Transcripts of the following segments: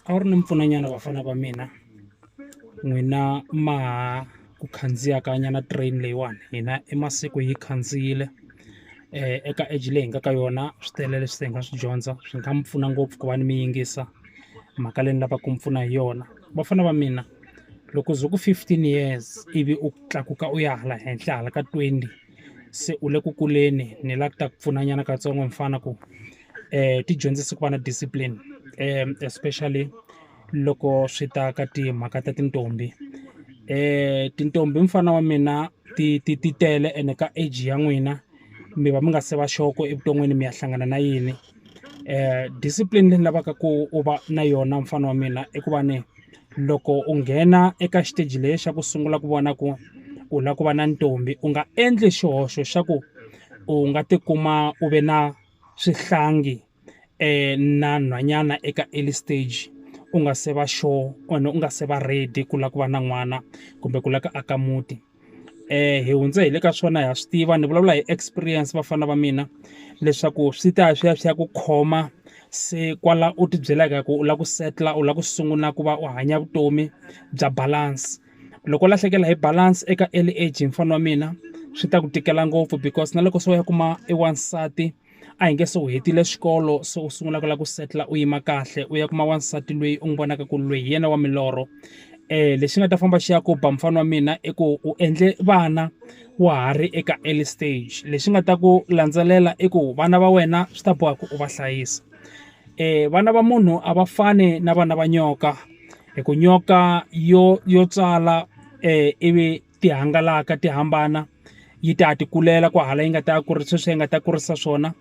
a wu ri ni mpfunanyana vafana va mina n'wina ma ha ku khandziyaka nyana train leyiwani hina i masiku hi khandziyile eka age leyi hi nga ka yona swi tele leswi se hi nga swi dyondza swi nga mi pfuna ngopfu ku va ni mi yingisa mhaka leyi ni lavaka ku mi pfuna hi yona vafana va mina loko ze ku fifteen years ivi u tlakuka u ya hala henhla hala ka twenty se u le ku kuleni ni la ku ta ku pfuna nyana katsongo mfana ku. um ti dyondzisa ku va na discipline um especially loko swi ta ka timhaka ta tintombi um tintombi mfana wa mina ti ti ti tele ene ka age ya n'wina mi va mi nga se va xoko evuton'wini mi ya hlangana na yini um discipline leyi ni lavaka ku u va na yona mfana wa mina i ku va ni loko u nghena eka xiteji leyi xa ku sungula ku vona ku u lava ku va na ntombi u nga endli xihoxo xa ku u nga tikuma u ve na swihlangi na nhwanyana eka early stage u nga se va sure or u nga se va ready ku lava ku va na n'wana kumbe ku lava ku aka muti. Hi hundze hi le ka swona ha swi tiva ni vulavula hi experience vafana va mina, leswaku swi ta ya swi ya swi ya ku khoma se kwala u ti byelaka ku u lava ku settle-a u lava ku sungula ku va u hanya vutomi bya balance. Loko u lahlekela hi balance eka early age mfana wa mina, swi ta ku tikela ngopfu because na loko se u ya kuma e wansati, a hi nge se u hetile xikolo se u sungula ku lava ku setla u yima kahle, u ya kuma wansati loyi u n'wi vonaka ku loyi hi yena wa milorho. Lexi nga ta famba xi ya ku ba mufana wa mina i ku u endle vana wa ha ri eka early stage. Lexi nga ta ku landzelela i ku vana va wena swi ta boha ku u va hlayisa. Vana va munhu a va fani na vana va nyoka. hi ku nyoka yo yo tswala ivi ti hangalaka ti hambana yi ta ti kulela ku hala yi nga ta ya kurisa sweswi yi nga ta kurisa swona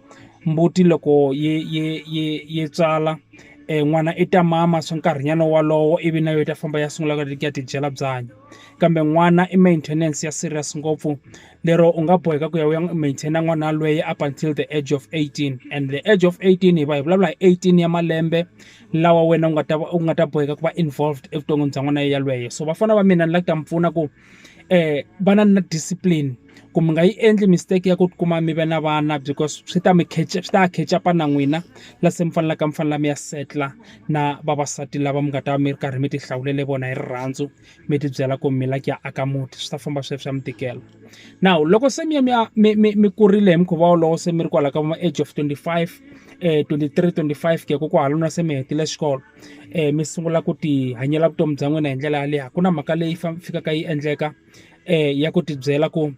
mbuti loko yi yi yi yi tswala n'wana i ta mama swa nkarhinyana wolowo ivi na yo yi ta famba ya sungula ku ya tidyela byanyi kambe n'wana i maintenance ya serious ngopfu lero u nga boheka ku ya u ya maintain n'wana yalweyo up until the age of eighteen and the age of eighteen hi va hi vulavula hi eighteen ya malembe. lawa wena u nga ta u nga ta boheka ku va involved evuton'wini bya n'wana yelweyo so vafana va mina ni la ku ta mi pfuna ku um vana na discipline ku mi nga yi endli mistake ya ku ti kuma mi ve na vana because swi ta mi swi ta ya catch up-a na n'wina la se mi fanelaka mi fanele mi ya settle-a na vavasati lava mi nga ta va mi ri karhi mi ti hlawulele vona hi rirhandzu mi ti byela ku mi lava ku ya aka muti swi ta famba swi ya swi ya mi tikela. Now loko se mi ya mi ya mi mi mi kurile hi mukhuva wolowo se mi ri kwalaya ka va age of twenty five, twenty three, twenty five ku ya ka kwalano na se mi hetile xikolo. Mi sungula ku ti hanyela vutomi bya n'wina hi ndlela yaleyo, a ku na mhaka leyi fikaka yi endleka ya ku ti byela ku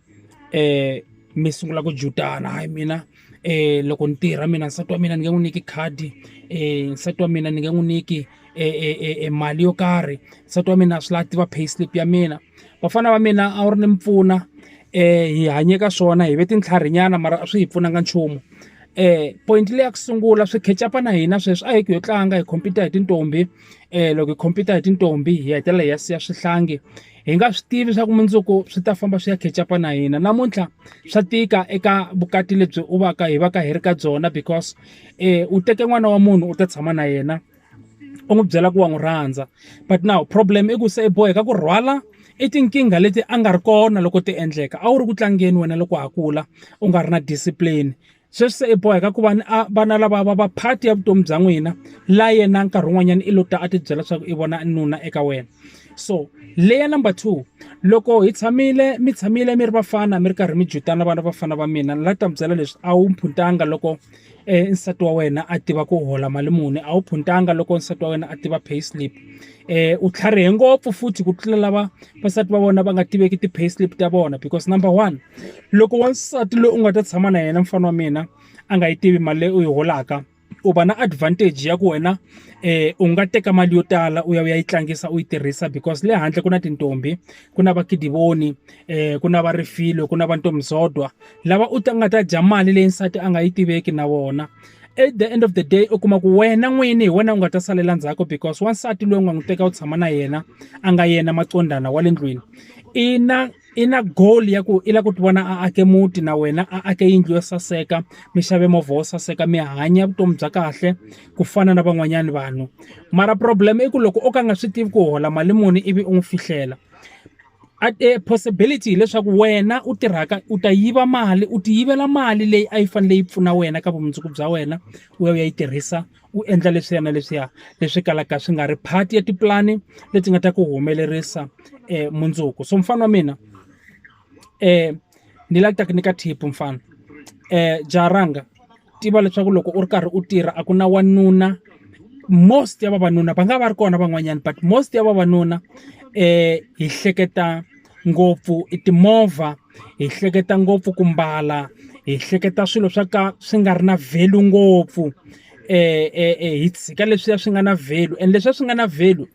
mi sungula ku jutana hayi mina. um loko ni tirha mina nsati wa mina ni nge n'wi nyiki khadi um nsati wa mina ni nge n'wi nyiki e mali yo karhi nsati wa mina a swi lavi a tiva pay slip ya mina vafana va mina a wu ri ni mi pfuna um hi hanye ka swona hi ve tintlhari nyana mara a swi hi pfunanga nchumu um point le ya ku sungula swi khecapa na hina sweswi a hi ku yo tlanga hi khompita hi tintombi um loko hi khompita hi tintombi hi hetelela hi ya siya swihlangi. hi nga swi tivi leswaku mundzuku swi ta famba swi ya khecapa na hina namuntlha swa tika eka vukati lebyi u va ka hi va ka hi ri ka byona because um u teke n'wana wa munhu u ta tshama na yena u n'wi byela ku wa n'wi rhandza but now problem i ku se i boheka ku rhwala i tinkingha leti a nga ri kona loko ti endleka a wu ri ku tlangeni wena loko ha kula u nga ri na discipline sweswi se i boheka ku va ni a vana lava va va part ya vutomi bya n'wina la yena nkarhi wun'wanyana i lo ta a ti byela leswaku i vona nuna eka wena so leya number two loko hi tshamile mi tshamile mi ri vafana mi ri karhi mi jutana vana vafana va mina ni la ta mi byela leswi a wu phuntanga loko nsati wa wena a tiva ku hola mali muni a wu phuntanga loko nsati wa wena a tiva pay slip eh u tlharihe ngopfu futhi ku tlula lava vasati va vona va nga tiveki ti-pay slip ta vona because number one loko wansati loyi u nga ta tshama na yena mfana wa mina a nga yi tivi mali leyi u yi holaka u va na advantage ya ku wena um u nga teka mali yo tala u ya u ya yi tlangisa u yi tirhisa because le handle ku na tintombi ku na vakidivoni um ku na varifilo ku na vantomizodwa lava u ta nga ta dya mali leyi nsati a nga yi tiveki na vona at the end of the day u kuma ku wena n'wini hi wena u nga ta salela ndzhaku because wansati loyi u nga n'wi teka u tshama na yena a nga yena macondana wa le ndlwini i na i na goal ya ku i lava ku ti vona a ake muti na wena a ake yindlu yo saseka mi xave movha wo saseka mi hanya vutomi bya kahle ku fana na van'wanyana vanhu mara problem i ku loko o ka a nga swi tivi ku hola mali muni ivi u n'wi fihlela a e possibility hileswaku wena u tirhaka u ta yiva mali u ti yivela mali leyi a yi fanele yi pfuna wena ka vumundzuku bya wena u ya u ya yi tirhisa u endla leswiya na leswiya leswi kalaka swi nga ri part ya tipulani leti nga ta ku humelerisa mundzuku so mufana wa mina . Ni la ku ta ku nyika tip mfana jaha rhanga tiva leswaku loko u ri karhi u tirha a ku na wanuna most ya vavanuna va nga va ri kona van'wanyana but most ya vavanuna hi hleketa ngopfu i timovha hi hleketa ngopfu ku mbala hi hleketa swilo swa ka swi nga ri na value ngopfu. hits ka leswiya swi nga na value and leswiya swi nga na value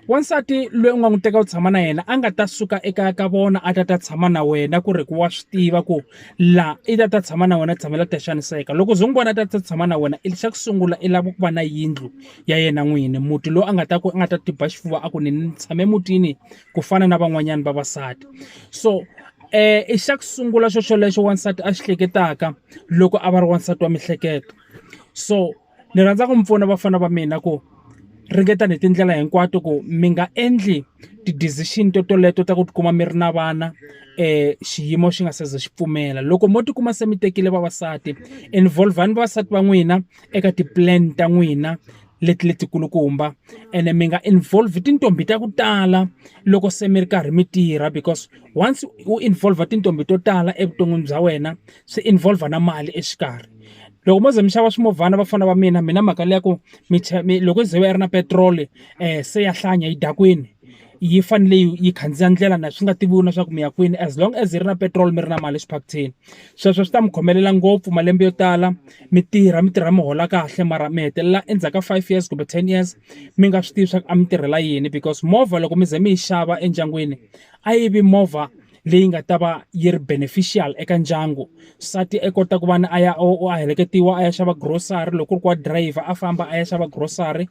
wansati loyi u nga n'wi teka u tshama na yena a nga ta suka ekaya ka vona a ta ta tshama na wena ku ri ku wa swi tiva ku laha i ta ta tshama na wena u tshamela ku ta xaniseka loko u ze u n'wi vona a ta ta tshama na wena i xa ku sungula i lava ku va na yindlu ya yena n'wini muti lowu a nga ta ku a nga ta tiba xifuva a ku ni ni tshame emutini ku fana na van'wanyana vavasati so i xa ku sungula xo xolexo wansati a xi hleketaka loko a va ri wansati wa mihleketo. so ni rhandza ku mi pfuna vafana va mina ku ringetani hi tindlela hinkwato ku mi nga endli ti-decision to toleto ta ku tikuma mi ri na vana um xiyimo xi nga se za xi pfumela loko mo tikuma se mi tekile vavasati involve-ni vavasati va n'wina eka ti-plan ta n'wina leti letikulukumba ene mi nga involve tintombi ta ku tala loko se mi ri karhi mi tirha because once u involve tintombi to tala evuton'wini bya wena swi involve na mali exikarhi loko mo ze mi xava swimovhana vafana va mina mina mhaka leya ku mi mi loko ze va yi ri na petiroli um se ya hlanya yi dya kwini yi fanele yi yi khandziya ndlela na swi nga tiviwi na swa ku mi ya kwini as long as yi ri na petiroli mi ri na mali exiphakuthini sweswo swi ta mi khomelela ngopfu malembe yo tala mi tirha mi tirha mi hola kahle mara mi hetelela endzhaku ka five years kumbe ten years mi nga swi tivi swa ku a mi tirhela yini because movha loko mi ze mi yi xava endyangwini a yi vi movha leyi nga ta va yi ri beneficial eka ndyangu nsati a kota ku va ni a ya o a heleketiwa a ya xava grocery loko ku ri ku wa driver a famba a ya xava grocery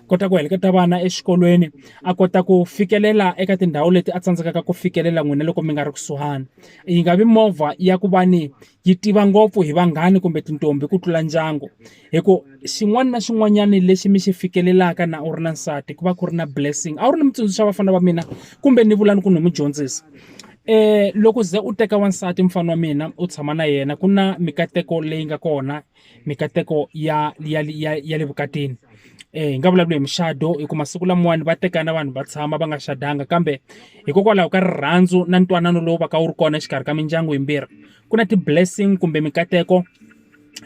kota ku heleketa vana exikolweni a kota ku fikelela eka tindhawu leti a tsandzekaka ku fikelela n'wina loko mi nga ri kusuhani yi nga vi movha ya ku va ni yi tiva ngopfu hi vanghani kumbe tintombi ku tlula ndyangu hi ku xin'wana na xin'wanyana lexi mi xi fikelelaka na u ri na nsati ku va ku ri na blessing a wu ri ni mutsundzuxa vafana va mina kumbe ni vulani ku ni mu dyondzisa um loko ze u teka wansati mufana wa mina u tshama na yena ku na mikateko leyi nga kona mikateko ya ya ya ya le vukatini eh hi nga vulavula hi muxado hi ku masiku lamawani va tekana vanhu va tshama va nga xadanga kambe hikokwalaho ka rirhandzu na ntwanano lowu va ka wu ri kona exikarhi ka mindyangu yimbirhi ku na ti-blessing kumbe mikateko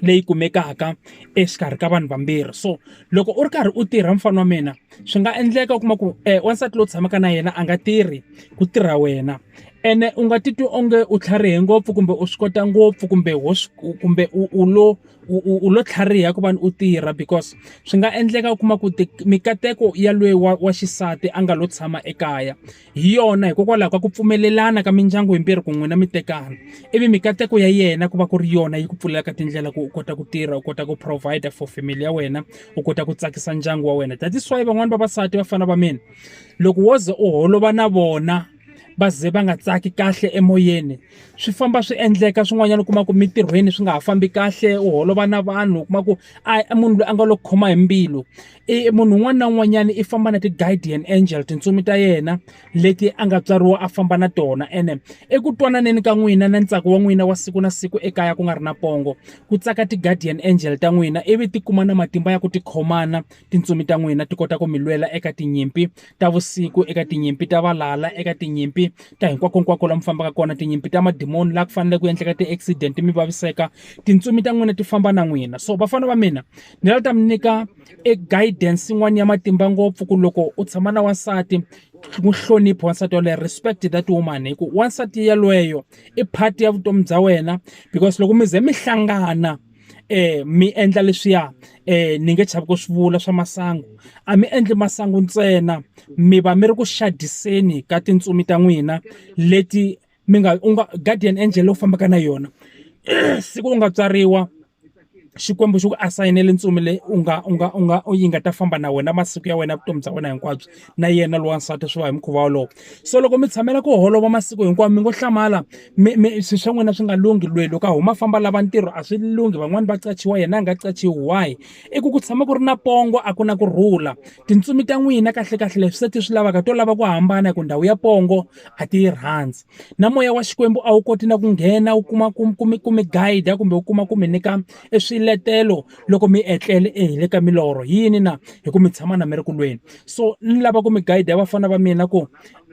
leyi kumekaka exikarhi ka vanhu vambirhi so loko u ri karhi u tirha mfana wa mina swi nga endleka u kuma ku um wansati lowu tshamaka na yena a nga tirhi ku tirha wena ene u nga titwi onge u tlharihe ngopfu kumbe u swi kota ngopfu kumbe wo kumbe u u lo u u u lo tlhariha ku va u tirha because swi nga endleka u kuma ku mikateko ya lweyi wa wa xisati a nga lo tshama ekaya Hi yona, hikokwalaho ka ku pfumelelana ka mindyangu himbirhi ku n'wina mi tekana, ivi mikateko ya yena ku va ku ri yona yi ku pfulelaka tindlela ku u kota ku tirha, u kota ku provide for family ya wena, u kota ku tsakisa ndyangu wa wena. That is why van'wana vavasati vafana va mina, loko wo ze u holova na vona va ze va nga tsaki kahle emoyeni, swi famba swi endleka swin'wanyana u kuma ku mintirhweni swi nga ha fambi kahle, u holova na vanhu u kuma ku a munhu loyi a nga lo khoma hi mbilu. i munhu un'wana na un'wanyana i famba na ti-guardian angel tintsumi ta yena leti a nga tswariwa a famba na tona ene eku twananeni ka n'wina na ntsako wa n'wina wa siku na siku ekaya ku nga ri na pongo ku tsaka ti-guardian angel ta n'wina ivi ti kuma na matimba ya ku ti khomana tintsumi ta n'wina ti kota ku mi lwela eka tinyimpi ta vusiku eka tinyimpi ta valala eka tinyimpi ta hinkwakonkwako la mi fambaka kona tinyimpi ta madimoni laha ku fanele ku endleka ti-accident mi vaviseka tintsumi ta n'wina ti famba na n'wina so vafana va mina ni la ta mi nyika e guidance yin'wana ya matimba ngopfu ku loko u tshama na wansati n'wi hloniphi wansati yaloye respect that woman hi ku wansati yaloyo i part ya vutomi bya wena because loko mi ze mi hlangana eh mi endla leswiya eh ni nge chavi ku swi vula swa masangu a mi endli masangu ntsena mi va mi ri ku xadiseni ka tintsumi ta n'wina leti mi nga u nga guardian angel lowu fambaka na yona siku u nga tswariwa xikwembu xi ku asayinele ntsumi leyi u nga u nga u nga yi nga ta famba na wena masiku ya wena vutomi bya wena hinkwabyo na yena lowa nsati swi va hi mukhuva wolowo so loko mi tshamela ku holova masiku hinkwawo mi ngo hlamala mi mi swi swa n'wina swi nga lunghi lweyi loko a huma famba lava ntirho a swi lunghi van'wani va qachiwa yena a nga qachiwi why i ku ku tshama ku ri na pongo a ku na ku rhula tintsumi ta n'wina kahlekahle leswi se ti swi lavaka to lava ku hambana hi ku ndhawu ya pongo a ti yi rhandzi na moya wa xikwembu a wu koti na ku nghena wu kuma ku ku mi ku mi guide kumbe wu kuma ku mi nyika e swiletelo loko mi etlele e hi le ka milorho yini na hi ku mi tshama na mi ri ku lweni so ni lava ku mi guide ya vafana va mina ku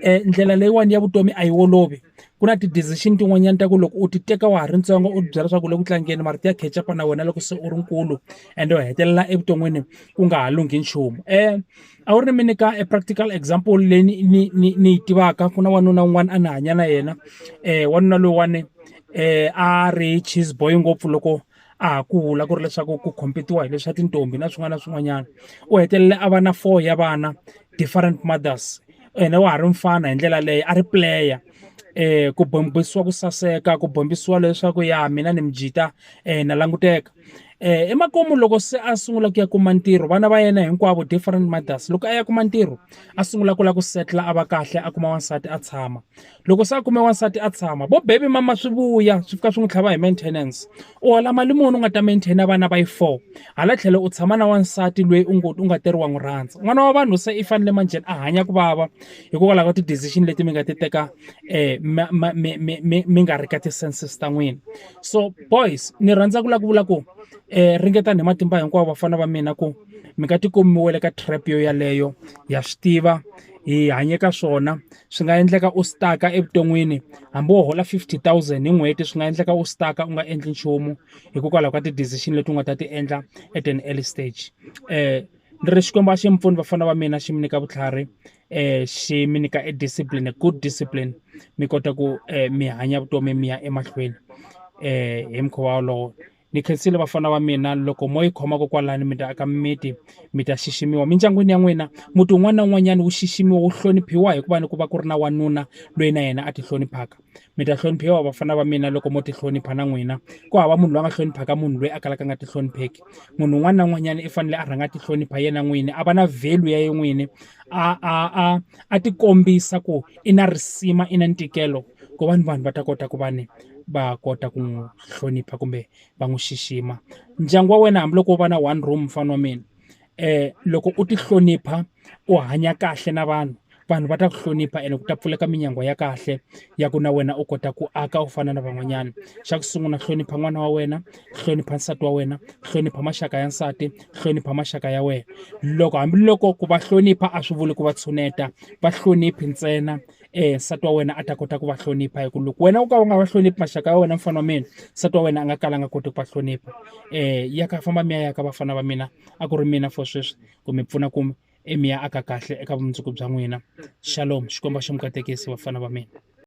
um ndlela leyiwani ya vutomi a yi olovi ku na ti-decision tin'wanyana ta ku loko u ti teka wa ha ri ntsongo u byela leswaku le ku tlangeni mara ti ya catch upa na wena loko se u ri nkulu ende u hetelela evuton'wini ku nga ha lunghi nchumu um a wu ri mi nyika e practical example leyi ni ni ni ni yi tivaka ku na wanuna un'wana a ni hanya na yena um wanuna lowuwani um a ri cheese boy ngopfu loko a ha kula ku ri leswaku ku compete-iwa hi leswa tintombi na swin'wana na swin'wanyana u hetelele a va na four ya vana different mothers ene wa ha ri mfana hi ndlela leyo a ri player um ku bombisiwa ku saseka ku bombisiwa leswaku ya mina ni mijita um na languteka. um emakumu loko se a sungula ku ya kuma ntirho vana va yena hinkwavo different mothers loko a ya kuma ntirho a sungula ku lava ku setla a va kahle a kuma wansati a tshama loko se a kume wansati a tshama vo baby mama swi vuya swi fika swi n'wi tlhava hi maintenance u hola mali muni u nga ta maintaina vana va yi four hala tlhelo u tshama na wansati loyi u ngo u nga teriwa n'wi rhandza n'wana wa vanhu se i fanele manjheni a hanya ku vava hikokwalaho ka ti-decision leti mi nga ti teka um mi nga ri ka ti-senses ta n'wina so boys ni rhandza ku la ku vula ku um ringetani hi matimba hinkwawo vafana va mina ku mi nga tikomiwele ka trap yo yaleyo ya swi tiva hi hanye ka swona swi nga endleka u staka evuton'wini hambi wo hola 50 000 hi n'hweti swi nga endleka u staka u nga endli nchumu hikokwalaho ka ti-decision leti u nga ta ti endla at an early stage um ni ri xikwembu a xi mi pfuni vafana va mina xi mi nyika vutlhari eh xi mi nyika e discipline a good discipline mi kota ku eh, mi hanya vutomi mi ya emahlweni eh hi mukhuva wolowo ni khensile vafana va mina loko mo yi khomaka kwalani mi ta aka mimiti mi ta xiximiwa mindyangwini ya n'wina muti un'wana na un'wanyana wu xiximiwa wu hloniphiwa hikuva ni ku va ku ri na wanuna loyi na yena a ti hloniphaka mi ta hloniphiwa vafana va mina loko mo tihlonipha na n'wina ku hava munhu loyi a nga hloniphaka munhu loyi a kalaka a nga tihlonipheki munhu un'wana na un'wanyana i fanele a rhanga a tihlonipha yena n'wini a va na value ya ye n'wini a a a a tikombisa ku i na risima i na ntikelo ku va ni vanhu va ta kota ku va ni va kota ku n'wi hlonipha kumbe va n'wi xixima ndyangu wa wena hambiloko wo va na one room mfana wa mina loko u ti hlonipha u hanya kahle na vanhu vanhu va ta ku hlonipha ene ku ta pfuleka minyangwa ya kahle ya ku na wena u kota ku aka u fana na van'wanyana xa ku sungula hlonipha n'wana wa wena hlonipha nsati wa wena hlonipha maxaka ya nsati hlonipha maxaka ya wena loko hambiloko ku va hlonipha a swi vuli ku va tshuneta va hloniphi ntsena eh nsati wa wena a ta kota ku va hlonipha hi ku loko wena u ka u nga va hloniphi maxaka ya wena mfana wa mina nsati wa wena a nga kala a nga koti ku va hlonipha eh ya ka famba mi ya ya ka vafana va mina a ku ri mina for sweswi ku mi pfuna ku mi ya aka kahle eka vumundzuku bya n'wina shalom xikwembu a xi mi katekisi vafana va mina